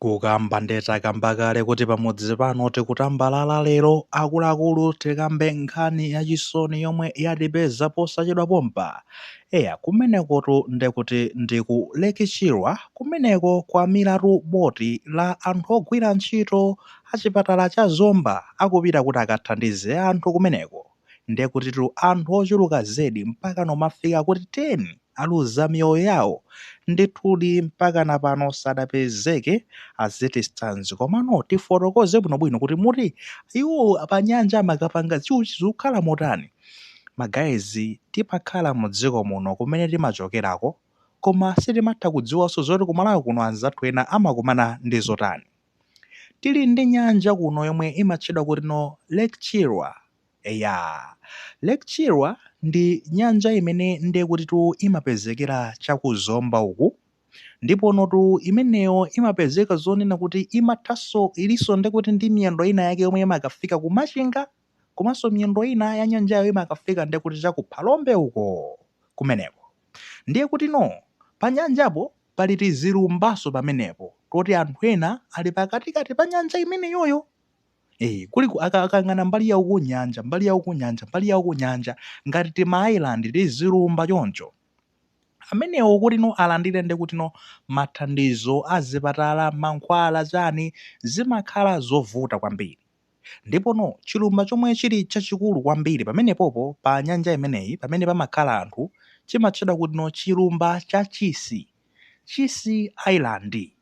Kukamba nde takamba kale kuti pamudzi pano tikutambalala lero akuluakulu tikambe nkhani yachisoni yomwe yatipeza posachedwa pompa. Eya kumenekotu ndekuti ndi ku Lake Chilwa kumeneko kwamilatu boti la anthu ogwira ntchito achipatala cha Zomba akupita kuti akathandize anthu kumeneko. ndekutitu anthu ochuluka zedi mpakana no kumafika kuti 10 aluza miyoyo yawo ndithudi mpakana pano sadapezeke as it stands komano tifotokoze bwinobwino kuti moti iwo panyanja amakapanga chiyani zikukhala motani magayizi timakhala mu dziko muno kumene timachokerako koma sitimatha kudziwanso zoti kumalawi kuno anzathu ena amakumana ndi zotani Tili ndi nyanja kuno yomwe imatchedwa kuti no Lake Chilwa. Eya, Lake Chilwa ndi nyanja imene ndiye kutitu imapezekera cha ku Zomba uku. Ndiponotu imeneyo imapezeka zonena kuti imathanso, ilinso ndiye kuti ndi miyendo inayake yomwe imakafika ku Machinga. komanso miyendo ina ya nyanjayo imakafika ndiye kuti cha ku Phalombe uko kumeneko. Ndiye kutino panyanjapo pali tizilumbanso pamenepo toti anthu ena ali pakatikati pa nyanja imeneyoyo. Eh, kuli ku- aka- akayang'ana mbali ya uku nyanja mbali ya uku nyanja mbali ya uku nyanja ngati timaisland tizilumba choncho amenewo kutino alandire ndi kutino mathandizo azipatala mankhwala chani zimakhala zovuta kwambiri Ndipono, chilumba chomwe chili chachikulu kwambiri pamenepopo pa nyanja imeneyi pamene pamakhala anthu, chimatchedwa kutino chilumba cha Chisi, Chisi Island.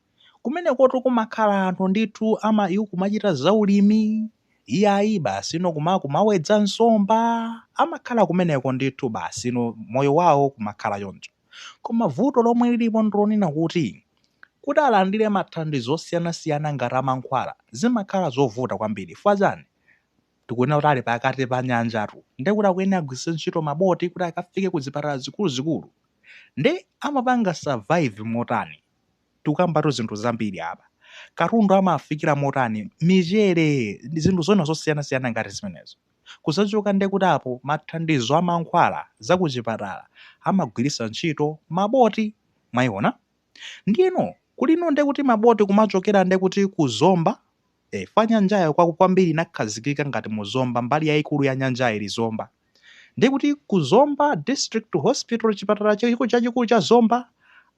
Kumenekotu kumakhala anthu ndithu ama, iwo kumachita za ulimi, iyayi, basi, you know, kuma, kumawedza nsomba, amakhala kumeneko ndithu, basi, you know, moyo wawo kumakhala choncho. Koma vuto lomwe lilipo ndilonena kuti, kuti alandire mathandizo osiyanasiyana ngati amankhwala zimakhala zovuta kwambiri chifukwa chani? Tikunena kuti ali pakati pa nyanjatu ndiye kuti akuyenera agwiritse ntchito maboti kuti akafike ku zipatala zikuluzikulu. Nde amapanga survive motani? Tikukambatu zinthu zambiri apa. Katundu amawafikira motani? Michere, zinthu zina zosiyanasiyana ngati zimenezo. kuzachoka ndekuti apo mathandizo a mankhwala za kuchipatala amagwiritsa ntchito maboti mwayiona ndiyeno kulino ndekuti maboti kumachokera ndekuti ku zomba e, fa nyanjayo kwa kwambiri inakhazikika ngati mu zomba mbali yayikulu ya nyanjayo ili zomba ndekuti ku zomba district hospital chipatala chachikulu cha zomba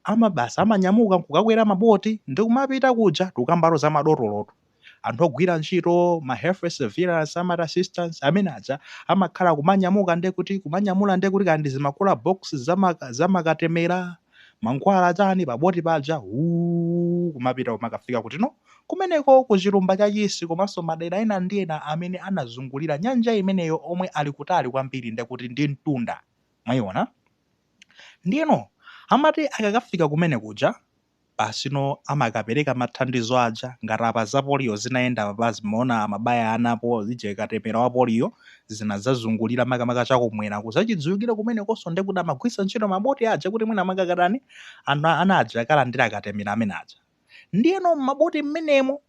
amabasa amanyamuka nkukakwera maboti ndikumapita kuja tukamba no za madotolotu Anthu ogwira ntchito ma health surveillance amati assistants amene aja amakhala kumanyamuka nde kuti kumanyamula nde kuti kaya ndi zimakula box zama zamakatemera mankhwala chani pa boti paja wuu kumapita kumakafika kuti no kumeneko ku chilumba cha chisi komanso madera ena ndi ena amene anazungulira nyanja imeneyo omwe ali kutali kwambiri nde kuti ndi mtunda mwaiona ndiyeno amati akakafika kumene kuja basino amakapereka mathandizo aja ngati apa za polio zinayenda apa zimaona amabaya ana po zija katemera wa polio zinadzazungulira makamaka chakumwera kuzachidziwikire kumenekonso nde kuti amagwiritsa ntchito maboti aja kuti mwina makakatani ana aja akalandire katemera amene aja ndiyeno m'maboti m'menemo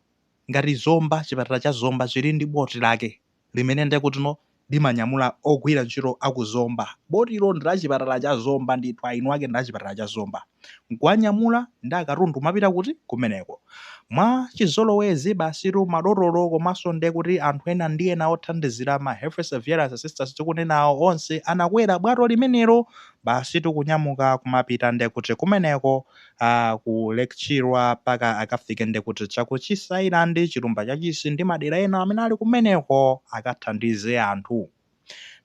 ngati Zomba chipatala cha Zomba chili ndi boti lake limene nde kutino limanyamula ogwira ntchito a ku Zomba. Botilo ndi la chipatala cha Zomba ndithu, eni ake ndi a chipatala cha Zomba. N'kuwanyamula ndi katundu kumapita kuti? Kumeneko. Mwa chizolowezi basitu madotolo komanso nde kuti anthu ena ndi ena othandizira ma Health Surveillance Assistants tikunenawo onse anakwera bwato limenelo basitu kunyamuka kumapita nde kuti kumeneko Aaa ku Lake Chilwa mpaka akafike ndekuti cha ku Chisi Island, chilumba cha Chisi ndi madera ena amene ali kumeneko akathandize anthu.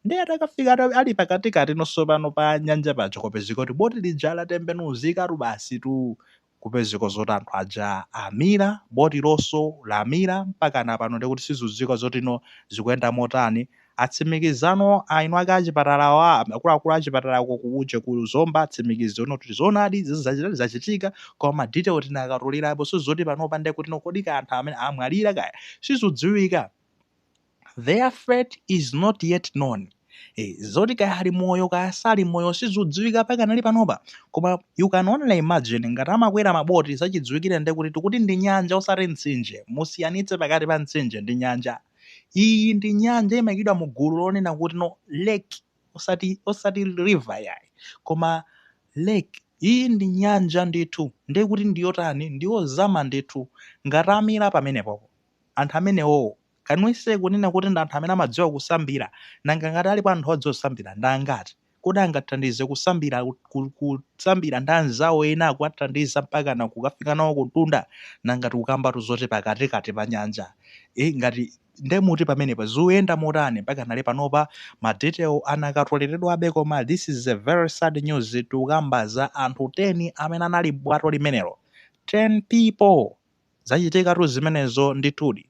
Nde atakafika ata ali pakatikati no so pano pa nyanja paja kwapezeka kuti boti lija latembenuzikatu basitu kupezeka zoti anthu aja amira, botilonso lamira mpakana pano ndekuti sizidziwika zotino zikuyenda motani Atsimikizano eni ake achipatalawa akuluakulu achipatalako kuje ku Zomba atsimikizano kuti zoonadi izi zachita zachitika koma ma detail sitinakatolerepo so zoti panopa nde kuti no kodi kaya anthu amene amwalira kaya sizikudziwika their fate is not yet known eh, zoti kaya ali moyo kaya sali moyo sizikudziwika pakanali panopa koma you can only imagine ngati amakwera maboti zachidziwikire nde kuti tikuti ndi nyanja osati mtsinje musiyanitse pakati pa mtsinje ndi nyanja iyi ndi nyanja imayikidwa mu gulu lonena kuti no lake osati osati river yayi koma lake iyi ndi nyanja ndithu ndiye kuti ndiyotani ndiyozama ndithu ngati amira pamenepopo anthu amenewowo kanwise kunena kuti ndi anthu amene amadziwa kusambira nanga ngati alipo anthu odziwa kusambira ndi angati Kodi angathandize kusambira, kusambira ndi anzawo ena akuwathandiza mpaka na kukafika nawo kumtunda? Nanga si tikukambatu zoti pakatikati pa nyanja e, ngati nde muti pamenepa zikuyenda motani pakanali panopa ma detail sanakatoleredwebe koma this is a very sad news tikukamba za anthu 10 amene anali m'bwato limenelo 10 people zachitikatu zimenezo ndithudi.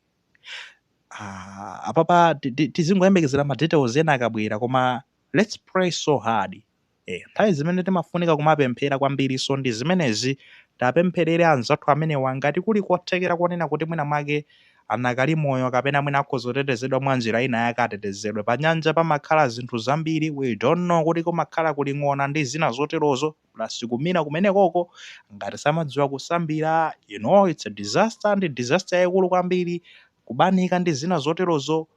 Ah, apapa ti- ti- tizingoyembekezera ma details ena akabwera koma let's pray so hard eh, nthawi zimene timafunika kumapemphera kwambirinso ndi zimenezi tapempherere anzathu amenewa ngati kuli kothekera konena kuti mwina mwake anakali moyo kapena mwina akhoza kutetezedwa mwa njira ina yake atetezedwe pa nyanja pamakhala zinthu zambiri we don't know kuti kumakhala kuli ng'ona ndi zina zoterozo plus kumira kumenekoko ngati samadziwa kusambira you know it's a disaster ndi disaster yaikulu kwambiri kubanika ndi zina zoterozo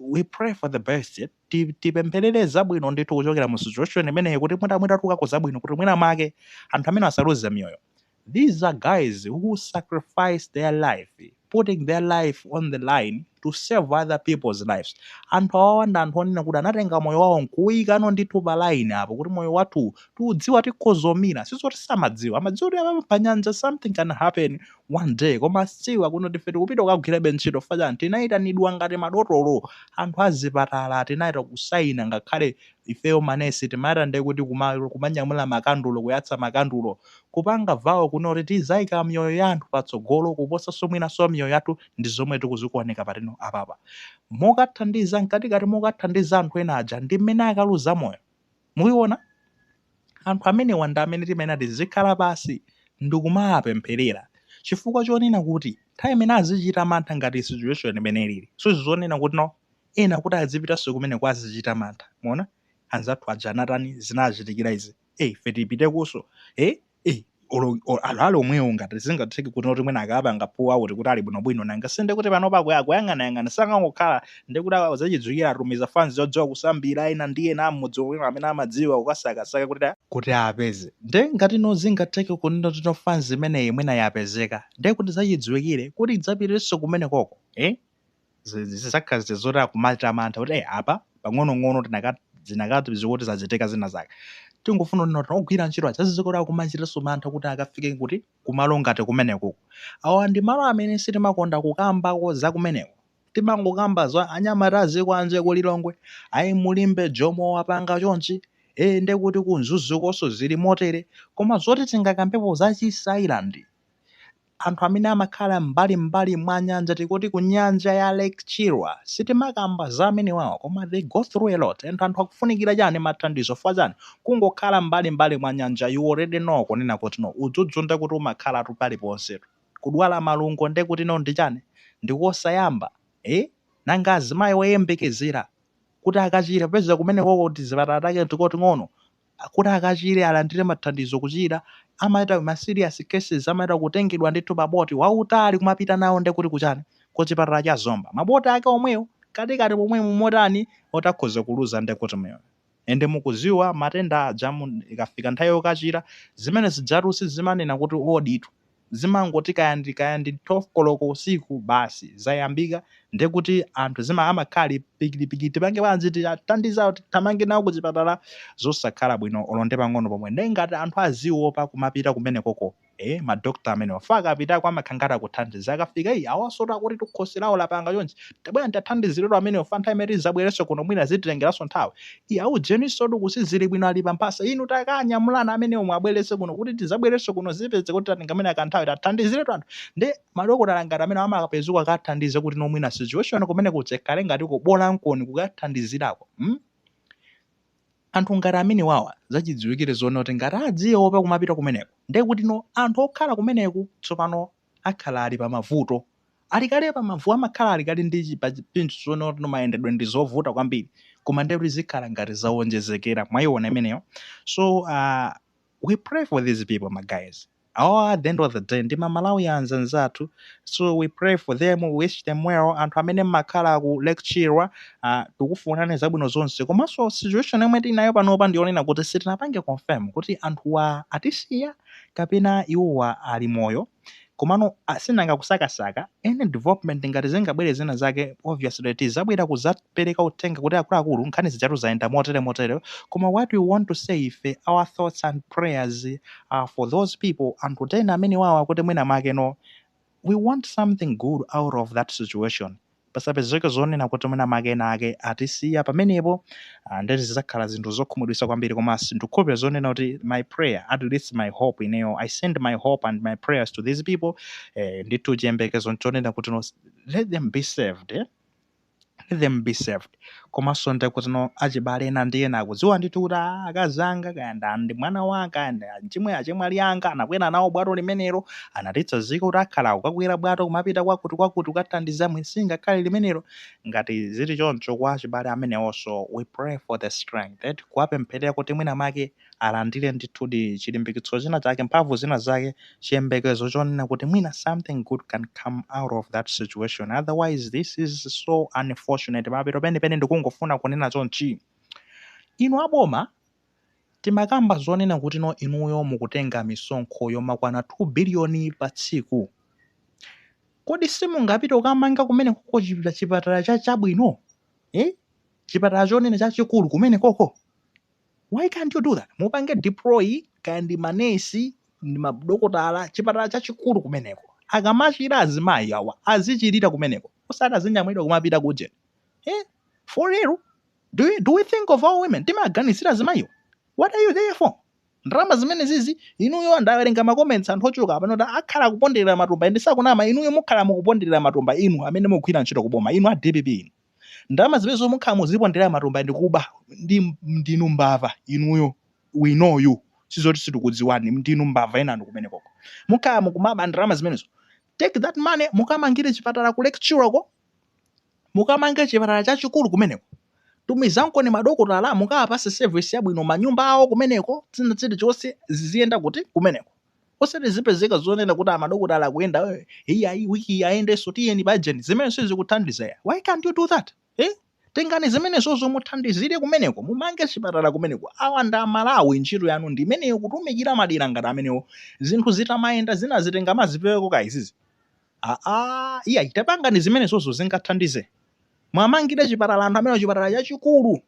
we pray for the best Ti- tipempherere zabwino ndithu kuchokera mu situation imeneyi kuti mwina mwina tukako zabwino kuti mwina make anthu amene asaluze miyoyo These are guys who sacrifice their life, putting their life on the line to save other people's lives. Anthu awawa ndi anthu onena kuti anatenga moyo wawo nkuwuyikano ndithu pa line apo kuti moyo wathu tiudziwa tikhozomira. Sizoti samadziwa, amadziwa kuti apa pa nyanja something can happen one day. Koma siwa kuno tife tikupita kukagwirabe ntchito fachani tinayitanidwa ngati madotolo anthu azipatala tinayita kusaina ngakhale ifeyo manesi timati ndekuti kuma kumanyamula makandulo kuyatsa makandulo kupanga vow kunena kuti tizaika miyoyo ya anthu patsogolo kuposaso mwinaso miyoyo yathu ndizomwe tikuzikuoneka patino apapa mokathandiza mkatikati mokathandiza anthu ena aja ndimmene akaluza moyo mukuona anthu amenewa ndi amene timayenera tizikhala pasi ndikumawapempherera chifukwa chonena kuti nthawi imene azichita mantha ngati situation imene ilili sizonena kuti no ena kuti adzipitanso kumeneko azichita mantha mwaona anzathu aja anatani zinachitikira izi eh ife tipitekonso eh eh olo olo- ali ali omwewo ngati zingatheke kuti noti mwina akapanga pull out kuti ali bwinobwino nanga sinde kuti pano pako akuyang'anayang'ana sangangokhala ndi kuti awa zachidziwikire atumiza fans yodziwa kusambira ena ndi ena amudzi omwe amene amadziwa kukasakasaka kuti a- kuti apeze nde ngati no zingatheke kunena kuti no fans imeneyi mwina yapezeka nde kuti zachidziwikire kuti idzapitenso kumenekoko eh zizakhala zija zoti akumachita mantha kuti eh apa pang'onong'ono tinaka zinakatiziwa kuti zachitika zina zake tingofuna kunena kuti ogwira ntchito aja azizikuti akumachitanso mantha kuti akafike kuti kumalo ngati kumenekuku awa ndi malo amene sitimakonda kukambako za kumeneko timangokamba za anyamata azikoanje ku Lilongwe ayi mu Limbe Jomo wapanga chonchi eh nde kuti ku Mzuzukonso zili motere koma zoti tingakambepo za Chisi Island Anthu amene amakhala m'mbalim'mbali mwa nyanja tikuti ku nyanja ya Lake Chilwa sitimakamba za amenewawa koma they go through a lot and anthu akufunikira chani mathandizo chifukwa chani kungokhala m'mbalim'mbali mwa nyanja you already know kunena kuti no udzudzu ndekuti umakhalatu paliponsetu kudwala malungo ndekuti no ndi chani ndi kosayamba eh nanga azimayi oyembekezera kuti akachire popeza kumenekoko tizipatala take tikoting'ono kuti akachire alandire mathandizo kuchira amaita ma serious cases amaita kutengedwa ndithu pa boti wautali kumapita nawo ndekuti kuchani kuchipatala cha Zomba ma boti ake omwewo kakatikati pomwe mumotani oti akhoza kuluza ndekuti moyo and mukuziwa matenda aja munthu ikafika nthawi yokachira zimene zijatu sizimanena kuti oditu zimangoti kaya ndi kaya ndi 12 koloko usiku basi zayambika ndiye kuti anthu zima amakhala ali pikitipikiti tipange bwanji titandize awo tithamange nawo ku chipatala zosakhala bwino olo ndi pang'ono pomwe ndiye ngati anthu aziwopa kumapita kumenekoko eh madokta amenewa fa akapitako amakhala ngati akuthandiza akafika iyi awansotu akuti khosi lawo lapanga chonchi Tabwerani tathandiziretu amenewa nthawi imene tizabwerenso kuno mwina zititengeranso nthawi. Iye awudzeninsotu kuti sali bwino ali pa mphasa inu takanyamulani amenewo muwabweretse kuno kuti tizabwerenso kuno zipezeka kuti tatenga mwina kanthawi tathandiziretu anthu ndi madokotala ngati amene amakapeza kukathandiza kuti no mwina situation kumeneku izikhala ngati kubolakoni kukathandizirako mm? anthu ngati amenewawa zachidziwikire zonena kuti ngati adziopa kumapita kumeneko ndiye kuti no anthu okhala kumeneku tsopano akhala ali pamavuto. Ali kale pamavu amakhala ali kale ndi chi- pa chinthu chonena kuti mayendedwe ndi zovuta kwambiri koma ndiye kuti zikhala ngati zawonjezekera mwayiona imeneyo so uh, we pray for these people my guys awa at the end of the day ndi aMalawi anzathu so we pray for them we wish them well anthu amene mmakhala ku Lake Chilwa uh, tikufunani zabwino zonse komanso situation yomwe tinayo panopa ndiyonena kuti sitinapange confirm kuti anthuwa atisiya kapena iwowa ali moyo komano ah, sinanga kusakasaka any development ngati zingabwere zina zake obviously tizabwera kuzapereka uthenga kuti akuluakulu nkhani zijatu zayenda motere motere koma what we want to say ife our thoughts and prayers are for those people anthu tena amenewawa kuti mwina make no we want something good out of that situation pasapezeke zonena kuti mwina make ena ake atisiya pamenepo ah, ndeti zidzakhala zinthu zokhumudwitsa kwambiri koma ndikukhulupirira zonena kuti my prayer at least my hope ineyo i send my hope and my prayers to these people eh, ndithu chiyembekezo nchonena kuti no, let them be saved eh? let them be saved komanso nde kuti no achibale ena ndi ena akudziwa ndithu kuti "Ah, akazi anga kaya nda ndi mwana wanga kaya ndi achimwe achemwali anga anakwera nawo bwato limenelo anatitsanzika kuti akhala akakwera bwato kumapita kwakuti kwakuti kukathandiza mwa sing'anga limenelo ngati zili choncho kwa achibale amenewonso we pray for the strength eti kuwapempherera kuti mwina make alandire ndithudi chilimbikitso china chake, mphamvu zina zake, chiyembekezo chonena kuti mwina something good can come out of that situation, otherwise this is so unfortunate. Pamapeto penipeni ndikungofuna kunena chonchi, inu aboma timakamba zonena kuti no inuyo mukutenga misonkho yomakwana 2 biliyoni pa tsiku, kodi simungapite kukamanga kumenekoko chipatala cha chabwino eh? chipatala chonena chachikulu kumenekoko Why can't you do that? Mupange deploy kaya ndi manesi ndi madokotala chipatala chachikulu kumeneko. Akamachira azimayi awa azichirira kumeneko. Osati azinyamulidwa kumapita kuje. Eh? For real? Do, you, do we think of our women? Timaganizira azimayiwo. What are you there for? ndalama zimene zizi inuyo ndawerenga makomentsi anthu ochuluka pano ati akhala kuponderera matumba ndiye sakunama inuyo mukhala mukuponderera matumba inu amene mukugwira ntchito kuboma inu a dpp inu ndalama zimenezo mukhala muziponderera matumba ndikuba ndi ndinu mbava inuyo we know you sizoti situkudziwani ndinu mbava enanu kumenekoko mukhala mukumaba ndalama zimenezo take that money mukamangire chipatala ku Lake Chilwa ko mukamange chipatala chachikulu kumeneko tumizankoni madokotala mukawapatse service yabwino manyumba awo kumeneko zina zilizonse ziziyenda kuti kumeneko osati zipezeka zonena kuti amadokotala akuyenda eh, iyayi wiki ayendenso tiyeni pajeni zimenezo sizikuthandiza ya why can't you do that eh? tengani zimenezozo muthandizire kumeneko mumange chipatala kumeneko awa ndi amalawi ntchito yanu ndi imeneyo kutumikira madera ngati amenewo zinthu zitamayenda zina zitenga muzipeweko ka izizi aa iyayi tapangani zimenezozo zingathandize mwamangire chipatala anthu amene chipatala chachikulu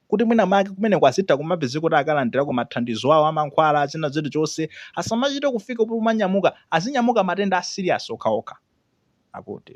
kuti mwina make kumeneko azitha kumapezekako kuti akalandirako mathandizo awo a mankhwala zina zilizonse asamachite kufika pomanyamuka azinyamuka matenda a serious okhaokha akuti